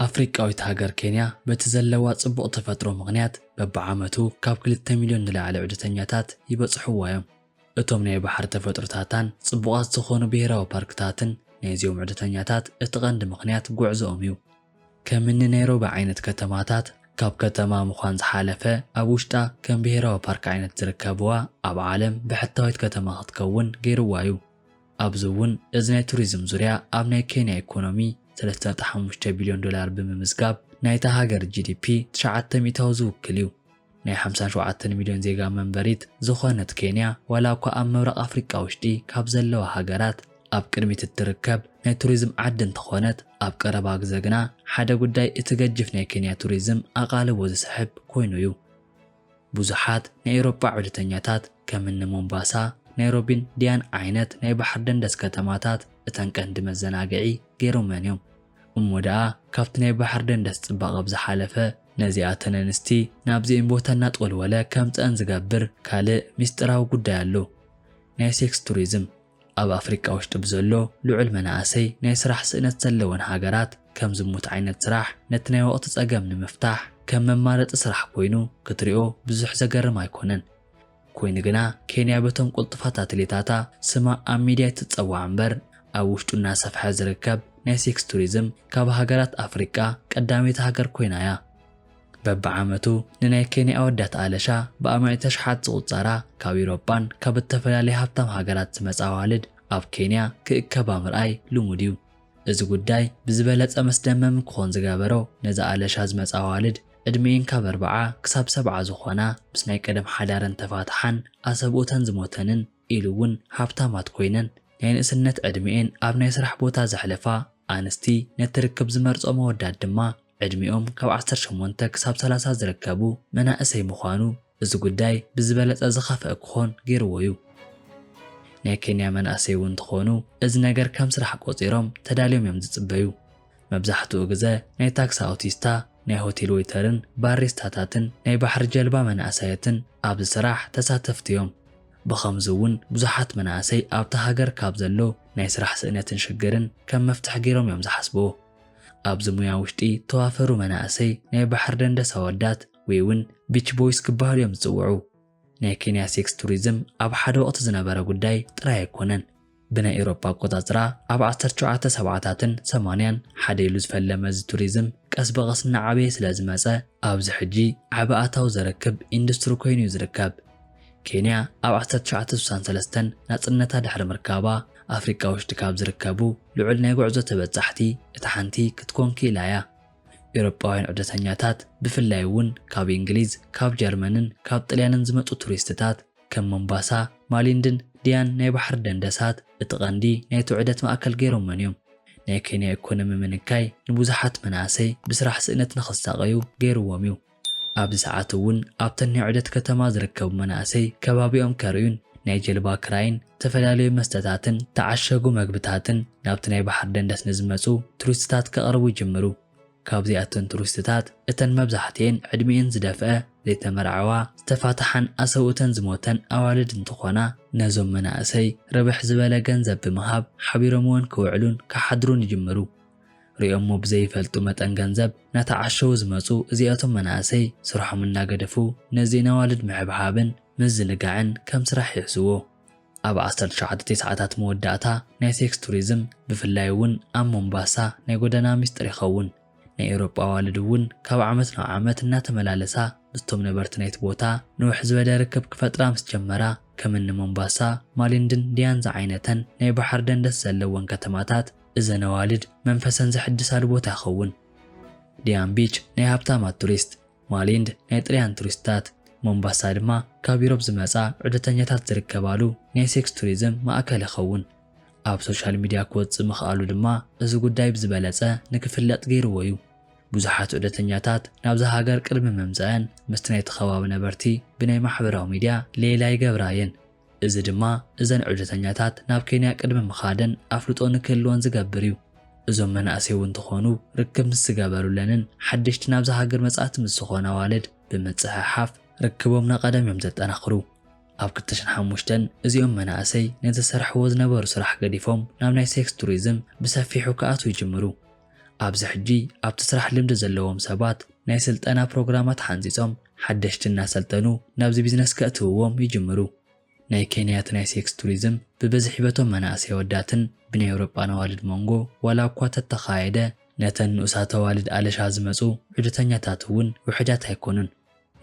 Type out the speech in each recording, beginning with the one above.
ኣፍሪቃዊት ሃገር ኬንያ በቲ ዘለዋ ጽቡቕ ተፈጥሮ ምኽንያት በብዓመቱ ካብ ክልተ ሚልዮን ንላዕሊ ዑደተኛታት ይበጽሕዋ እዮም። እቶም ናይ ባሕሪ ተፈጥሮታታን ጽቡቓት ዝኾኑ ብሄራዊ ፓርክታትን ናይዚኦም ዑደተኛታት እቲ ቀንዲ ምኽንያት ጉዕዞኦም እዩ። ከም እኒ ናይሮቢ ዓይነት ከተማታት ካብ ከተማ ምዃን ዝሓለፈ ኣብ ውሽጣ ከም ብሄራዊ ፓርክ ዓይነት ዝርከብዋ ኣብ ዓለም ብሕታዊት ከተማ ክትከውን ገይርዋ እዩ። ኣብዚ እውን እዚ ናይ ቱሪዝም ዙርያ ኣብ ናይ ኬንያ ኢኮኖሚ ሰለስተ ነጥቢ ሓሙሽተ ቢልዮን ዶላር ብምምዝጋብ ናይታ ሃገር ጂዲፒ ትሽዓተ ሚእታዊ ዝውክል እዩ። ናይ ሓምሳ ሸውዓተ ሚልዮን ዜጋ መንበሪት ዝኾነት ኬንያ ዋላ እኳ ኣብ ምብራቕ ኣፍሪቃ ውሽጢ ካብ ዘለዋ ሃገራት ኣብ ቅድሚት እትርከብ ናይ ቱሪዝም ዓዲ እንተኾነት ኣብ ቀረባ ግዘ ግና ሓደ ጉዳይ እቲ ገጅፍ ናይ ኬንያ ቱሪዝም ኣቓልቦ ዝሰሕብ ኮይኑ እዩ። ብዙሓት ናይ ኤውሮጳ ዑደተኛታት ከም እኒ ሞምባሳ፣ ናይሮቢን ዲያን ዓይነት ናይ ባሕሪ ደንደስ ከተማታት እተን ቀንዲ መዘናግዒ ገይሮመን እዮም። እሞ ደኣ ካብቲ ናይ ባሕሪ ደንደስ ፅባቐ ብዝሓለፈ ነዚኣተን ኣንስቲ ናብዚኤን ቦታ እናጠወልወለ ከምጽኣን ዝገብር ካልእ ሚስጢራዊ ጉዳይ ኣሎ። ናይ ሴክስ ቱሪዝም። ኣብ ኣፍሪቃ ውሽጢ ብዘሎ ልዑል መናእሰይ ናይ ስራሕ ስእነት ዘለወን ሃገራት ከም ዝሙት ዓይነት ስራሕ ነቲ ናይ ወቕቲ ጸገም ንምፍታሕ ከም መማረጺ ስራሕ ኮይኑ ክትሪኦ ብዙሕ ዘገርም ኣይኮነን። ኮይኑ ግና ኬንያ በቶም ቁልጡፋት ኣትሌታታ ስማ ኣብ ሚድያ ኣይትፀዋዕ እምበር ኣብ ውሽጡ እናሰፍሐ ዝርከብ ናይ ሴክስ ቱሪዝም ካብ ሃገራት ኣፍሪቃ ቀዳመይቲ ሃገር ኮይና እያ። በቢዓመቱ ንናይ ኬንያ ኣወዳት ኣለሻ ብኣማኢት ኣሽሓት ዝቑፀራ ካብ ኢሮጳን ካብ እተፈላለያ ሃብታም ሃገራት ዝመፃ ኣዋልድ ኣብ ኬንያ ክእከባ ምርኣይ ልሙድ እዩ። እዚ ጉዳይ ብዝበለጸ መስደመም ክኾን ዝገበሮ ነዚ ኣለሻ ዝመጻ ኣዋልድ ዕድሜኤን ካብ ኣርብዓ ክሳብ ሰብዓ ዝኾና ምስ ናይ ቀደም ሓዳረን ተፋትሓን ኣሰብኡተን ዝሞተንን ኢሉ እውን ሃብታማት ኮይነን ናይ ንእስነት ዕድሜኤን ኣብ ናይ ስራሕ ቦታ ዘሕለፋ ኣንስቲ ነቲ ርክብ ዝመርጾ መወዳት ድማ ዕድሚኦም ካብ ዓሰርተ ሸሞንተ ክሳብ ሰላሳ ዝርከቡ መናእሰይ ምዃኑ እዚ ጉዳይ ብዝበለፀ ዝኸፍኣ ክኾን ገይርዎ ዩ። ናይ ኬንያ መናእሰይ ውን እንትኾኑ እዚ ነገር ከም ስራሕ ቆፂሮም ተዳልዮም ዮም ዝፅበዩ። መብዛሕትኡ ግዘ ናይ ታክሲ ኣውቲስታ፣ ናይ ሆቴል ወይተርን ባሪስታታትን ናይ ባሕሪ ጀልባ መናእሰያትን ኣብዚ ስራሕ ተሳተፍቲ ዮም። ብኸምዚ ውን ብዙሓት መናእሰይ ኣብታ ሃገር ካብ ዘሎ ናይ ስራሕ ስእነትን ሽግርን ከም መፍትሒ ገይሮም ዮም ዝሓስብዎ። ኣብዚ ሙያ ውሽጢ ተዋፈሩ መናእሰይ ናይ ባሕሪ ደንደስ ኣወዳት ወይ ውን ቢች ቦይስ ክበሃሉ እዮም ዝፅውዑ። ናይ ኬንያ ሴክስ ቱሪዝም ኣብ ሓደ ወቕቲ ዝነበረ ጉዳይ ጥራይ ኣይኮነን። ብናይ ኤውሮጳ ኣቆፃፅራ ኣብ ዓሰርተ ሸውዓተ ሰብዓታትን ሰማንያን ሓደ ኢሉ ዝፈለመ እዚ ቱሪዝም ቀስ ብቐስ እናዓበየ ስለዝመፀ ኣብዚ ሕጂ ዓቢ ኣታዊ ዘረክብ ኢንዱስትሪ ኮይኑ እዩ ዝርከብ። ኬንያ ኣብ ዓሰርተ ትሽዓተ ስሳን ሰለስተን ናጽነታ ድሕሪ ምርካባ፣ ኣፍሪቃ ውሽጢ ካብ ዝርከቡ ልዑል ናይ ጉዕዞ ተበጻሕቲ እታ ሓንቲ ክትኮን ክኢላ እያ። ኤውሮጳውያን ዑደተኛታት፣ ብፍላይ እውን ካብ እንግሊዝ፣ ካብ ጀርመንን ካብ ጥልያንን ዝመጹ ቱሪስትታት፣ ከም ሞምባሳ፣ ማሊንድን ዲያን ናይ ባሕሪ ደንደሳት እቲ ቀንዲ ናይቲ ዑደት ማእከል ገይሮመን እዮም። ናይ ኬንያ ኢኮኖሚ ምንካይ ንብዙሓት መናእሰይ ብስራሕ ስእነት ንኽሳቐዩ ገይሩዎም እዩ። ኣብዚ ሰዓት እውን ኣብተን ናይ ዑደት ከተማ ዝርከቡ መናእሰይ ከባቢኦም ከርእዩን ናይ ጀልባ ክራይን ዝተፈላለዩ መስተታትን ተዓሸጉ መግብታትን ናብቲ ናይ ባሕሪ ደንደስ ንዝመፁ ቱሪስትታት ከቕርቡ ይጅምሩ። ካብዚኣተን ቱሪስትታት እተን መብዛሕቲኤን ዕድሚኤን ዝደፍአ፣ ዘይተመርዐዋ፣ ዝተፋትሓን ኣሰብኡተን ዝሞተን ኣዋልድ እንትኾና ነዞም መናእሰይ ርብሕ ዝበለ ገንዘብ ብምሃብ ሓቢሮምወን ክውዕሉን ክሓድሩን ይጅምሩ። ሪኦሞ ብዘይፈልጡ መጠን ገንዘብ ናተዓሸዉ ዝመጹ እዚኣቶም መናእሰይ ስርሖም እናገደፉ ነዚ ነዋልድ ምሕብሓብን ምዝንጋዕን ከም ስራሕ ይሕዝዎ። ኣብ ዓሰርተ ትሽዓተ ቴስዓታት መወዳእታ ናይ ሴክስ ቱሪዝም ብፍላይ እውን ኣብ ሞምባሳ ናይ ጎደና ሚስጥር ይኸውን። ናይ ኤውሮጳ ኣዋልድ እውን ካብ ዓመት ናብ ዓመት እናተመላለሳ ምስቶም ነበርቲ ናይቲ ቦታ ንውሕ ዝበለ ርክብ ክፈጥራ ምስ ጀመራ ከም እኒ ሞምባሳ፣ ማሊንድን ዲያን ዝዓይነተን ናይ ባሕሪ ደንደስ ዘለወን ከተማታት እዘን ኣዋልድ መንፈሰን ዘሕድሳሉ ቦታ ይኸውን። ዲያም ቢች ናይ ሃብታማት ቱሪስት፣ ማሊንድ ናይ ጥልያን ቱሪስትታት፣ ሞምባሳ ድማ ካብ ዩሮፕ ዝመጻ ዑደተኛታት ዝርከባሉ ናይ ሴክስ ቱሪዝም ማእከል ይኸውን። ኣብ ሶሻል ሚድያ ክወጽእ ምኽኣሉ ድማ እዚ ጉዳይ ብዝበለጸ ንክፍለጥ ገይርዎ'ዩ። ብዙሓት ዑደተኛታት ናብዛ ሃገር ቅድሚ ምምጸኣን ምስቲ ናይቲ ከባቢ ነበርቲ ብናይ ማሕበራዊ ሚድያ ሌላ ይገብራ'የን። እዚ ድማ እዘን ዑደተኛታት ናብ ኬንያ ቅድሚ ምኻደን ኣፍልጦ ንክህልወን ዝገብር እዩ። እዞም መናእሰይ እውን እንተኾኑ ርክብ ምስ ዝገበሩለንን ሓደሽቲ ናብዛ ሃገር መጻእቲ ምስ ዝኾኑ ኣዋልድ ብምጽሕሓፍ ርክቦም ናቀደም እዮም ዘጠናኽሩ። ኣብ ክልተ ሽሕን ሓሙሽተን እዚኦም መናእሰይ ነቲ ዝሰርሕዎ ዝነበሩ ስራሕ ገዲፎም ናብ ናይ ሴክስ ቱሪዝም ብሰፊሑ ክኣትዉ ይጅምሩ። ኣብዚ ሕጂ ኣብቲ ስራሕ ልምዲ ዘለዎም ሰባት ናይ ስልጠና ፕሮግራማት ሓንጺጾም ሓደሽቲ እናሰልጠኑ ናብዚ ቢዝነስ ከእትውዎም ይጅምሩ። ናይ ኬንያ እቲ ናይ ሴክስ ቱሪዝም ብብዝሒ በቶም መናእሰይ ኣወዳትን ብናይ ኤውሮጳን ኣዋልድ ሞንጎ ዋላ እኳ ተተኻየደ ነተን ንኡሳት ኣዋልድ ኣለሻ ዝመጹ ዑደተኛታት እውን ውሕዳት ኣይኮኑን።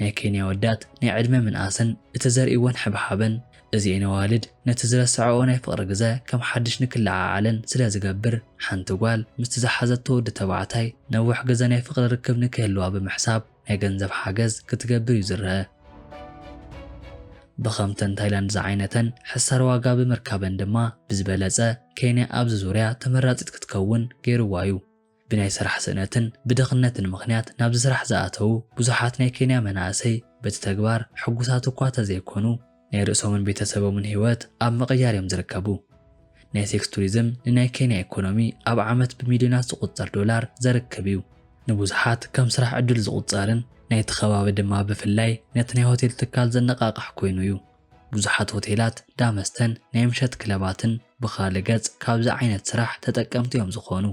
ናይ ኬንያ ኣወዳት ናይ ዕድመ ምንኣስን እቲ ዘርእይወን ሕብሓብን፣ እዚኤን ኣዋልድ ነቲ ዝረሰዐኦ ናይ ፍቕሪ ግዘ ከም ሓድሽ ንክለዓዓለን ስለ ዝገብር፣ ሓንቲ ጓል ምስቲ ዝሓዘቶ ወዲ ተባዕታይ ነውሕ ግዘ ናይ ፍቕሪ ርክብ ንክህልዋ ብምሕሳብ ናይ ገንዘብ ሓገዝ ክትገብር እዩ ዝረኣ። ብከምተን ታይላንድ ዝዓይነተን ሕሳር ዋጋ ብምርካበን ድማ ብዝበለፀ ኬንያ ኣብዚ ዙርያ ተመራፂት ክትከውን ገይርዋ እዩ። ብናይ ስራሕ ስእነትን ብድኽነትን ምኽንያት ናብዚ ስራሕ ዝኣተዉ ብዙሓት ናይ ኬንያ መናእሰይ በቲ ተግባር ሕጉሳት እኳ ተዘይኮኑ ናይ ርእሶምን ቤተሰቦምን ህይወት ኣብ ምቕያር እዮም ዝርከቡ። ናይ ሴክስ ቱሪዝም ንናይ ኬንያ ኢኮኖሚ ኣብ ዓመት ብሚልዮናት ዝቑጸር ዶላር ዘርክብ እዩ። ንብዙሓት ከም ስራሕ ዕድል ዝቑጸርን ናይቲ ከባቢ ድማ ብፍላይ ነቲ ናይ ሆቴል ትካል ዘነቓቕሕ ኮይኑ እዩ። ብዙሓት ሆቴላት፣ ዳ መስተን ናይ ምሸት ክለባትን ብኻልእ ገጽ ካብዚ ዓይነት ስራሕ ተጠቀምቲ እዮም ዝኾኑ።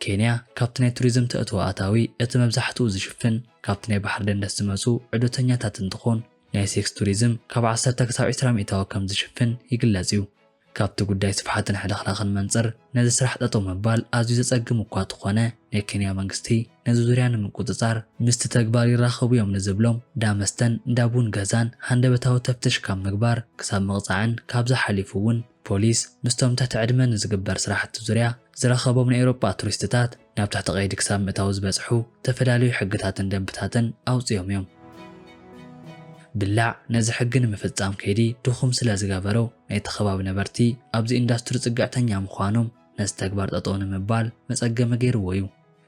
ኬንያ ካብቲ ናይ ቱሪዝም ተእትዎ ኣታዊ እቲ መብዛሕትኡ ዝሽፍን ካብቲ ናይ ባሕሪ ደንደስ ዝመጹ ዑደተኛታት እንትኾን ናይ ሴክስ ቱሪዝም ካብ ዓሰርተ ክሳብ ዕስራ ሚእታዊ ከምዝሽፍን ይግለጽ እዩ። ካብቲ ጉዳይ ስፍሓትን ሕልኽላኽን መንጽር ነዚ ስራሕ ጠጠው ምባል ኣዝዩ ዘጸግም እኳ እተኾነ፣ ናይ ኬንያ መንግስቲ ነዚ ዙርያ ንምቁጽጻር ምስቲ ተግባር ይራኸቡ እዮም ንዝብሎም እንዳ መስተን እንዳ ቡን ገዛን ሃንደበታዊ ተፍትሽ ካብ ምግባር ክሳብ ምቕጻዕን ካብዚ ሓሊፉ እውን ፖሊስ ምስቶም ትሕቲ ዕድመ ንዝግበር ስራሕቲ ዙርያ ዝረኸቦም ናይ ኤውሮጳ ቱሪስትታት ናብ ትሕቲ ቀይዲ ክሳብ ምእታው ዝበጽሑ ዝተፈላለዩ ሕግታትን ደንብታትን ኣውጺኦም እዮም። ብላዕ ነዚ ሕጊ ንምፍጻም ከይዲ ድኹም ስለ ዝገበሩ ናይቲ ከባቢ ነበርቲ ኣብዚ ኢንዳስትሪ ጽግዕተኛ ምዃኖም ነዚ ተግባር ጠጠው ንምባል መጸገሚ ገይርዎ እዩ።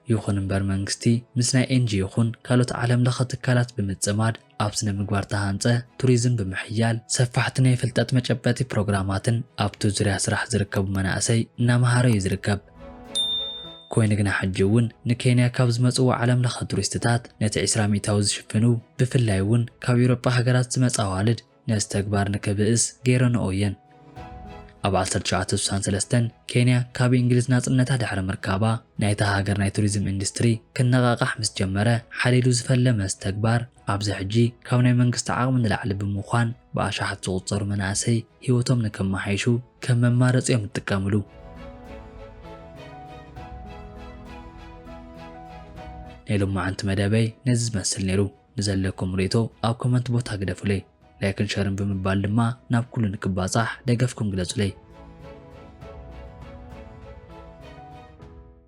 ይኹን እምበር መንግስቲ ምስ ናይ ኤንጅ ይኹን ካልኦት ዓለም ለኸ ትካላት ብምጽማድ ኣብ ስነ ምግባር ተሃንፀ ቱሪዝም ብምሕያል ሰፋሕቲ ናይ ፍልጠት መጨበጢ ፕሮግራማትን ኣብቲ ዙርያ ስራሕ ዝርከቡ መናእሰይ እናመሃረ እዩ ዝርከብ። ኮይኑ ግና ሕጂ እውን ንኬንያ ካብ ዝመፅዎ ዓለም ለኸ ቱሪስትታት ነቲ ዕስራ ሚእታዊ ዝሽፍኑ ብፍላይ እውን ካብ ኢውሮጳ ሃገራት ዝመፃ ኣዋልድ ነዚ ተግባር ንክብእስ ገይረንኦ እየን። ኣብ 1963 ኬንያ ካብ እንግሊዝ ናጽነታ ድሕሪ ምርካባ ናይታ ሃገር ናይ ቱሪዝም ኢንዱስትሪ ክነቓቓሕ ምስ ጀመረ ሓደ ኢሉ ዝፈለመ እዚ ተግባር ኣብዚ ሕጂ ካብ ናይ መንግስቲ ዓቕሚ ንላዕሊ ብምዃን ብኣሽሓት ዝቑጸሩ መናእሰይ ህይወቶም ንከመሓይሹ ከም መማረጺ እዮም ዝጥቀምሉ። ናይ ሎማዓንቲ መደበይ ነዚ ዝመስል ነይሩ። ንዘለኩም ርእይቶ ኣብ ኮመንት ቦታ ግደፉለይ። ላይክን ሸርን ብምባል ድማ ናብ ኩሉ ንክባጻሕ ደገፍኩም ግለጹለይ።